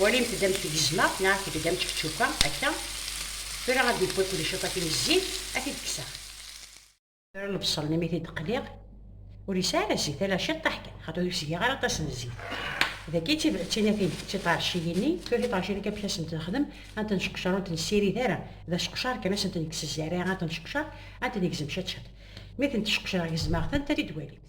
Walimt-d amek gezmeɣ neɣ aket-d amek ččukeɣ akka. Tura ad d-yewwi kulli ciṭatin n zzit, ad t-id-kkseɣ. Tura lebṣel-nni mi t-id-qliɣ, ur yesɛi ara zzit, ala ciṭṭaḥ kan, xaṭi ur yesgi ara aṭas n zzit. Dagi d tinatin, d tiṭerciyin-nni. Tura tiṭerciyin-nni kan amek ad sent-nexdem, ad ntent-nceqcar, ur ntent-nessirid ara, d aceqcar kan, ad sent-nekkes zzerriɛ, ad ntent-nceqcar, ad ntent-negzem ciṭ ciṭ. Mi tent-ceqcreɣ gezmeɣ-tent, ad t-id-walimt.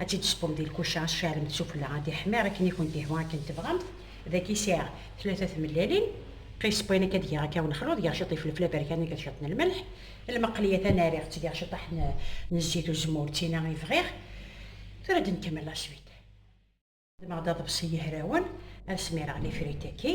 ad tt-id-squm di lkuca asarem d sufella ad iḥmir akken i kent-ihwa akken tebɣamt, dagi sɛiɣ tlata tmellalin, qisp wayen akka ad geɣ akka unexluḍ, geɣ ciṭ n ifelfel aberkan akked ciṭ n lmelḥ, lmeqliya tanariɣ-tt geɣ ciṭaḥ n n zzit uzemmur d tina i bɣiɣ, tura ad nkemmel la suite. Xedmeɣ-d aḍebsi yehrawen, ad smireɣ lifritaki.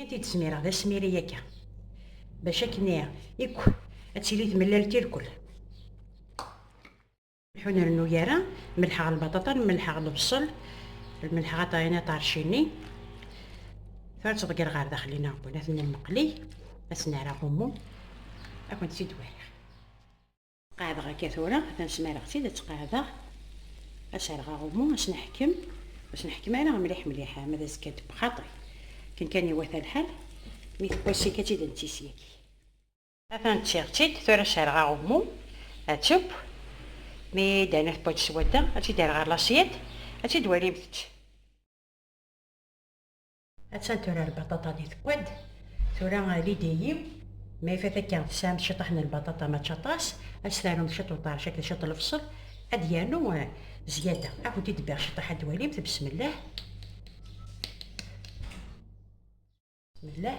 I t-id-smireɣ d asmiri akka, bac akken ikk ad tili tmellalt irkel. Ur nrennu ara, mellḥeɣ lbaṭaṭa, mellḥeɣ lebṣel, lmelḥeɣ aṭayen aṭarcini. Tura ad tt-ḍegger ɣer daxel-in aɣbun, ad ten-nmeqli, ad sen-ara ɣummu, ad kent-tt-id-wariɣ. Qeɛdeɣ akka tura, atan smareɣ-tt-id, ad tt-qeɛdeɣ, ad serɣeɣ umu, ad s-neḥkem, ad s-neḥkem ara mliḥ mliḥ, ama d azekka d bxaṭi, akken kan iwata lḥal, mi tewwa sik ad tt-id-netti sik. Atan ttiɣ-tt-id, tura serɣeɣ umu, ad teww, mi d-ana tewwa-d s wadda, ad tt-id-err ɣer laṣyad, ad tt-id-twalimt-tt. Attan tura lbaṭaṭa di tekkad, tura lidi-yi ma ifat akka tesɛam ciṭaḥ n lbaṭaṭa mačči aṭas, ad s-tarum ciṭ uṭarc akked ciṭ lebṣel, ad yernu zzyada. Ad kent-id-bbiɣ ciṭaḥ ad twalimt, besmellah. Bismillah.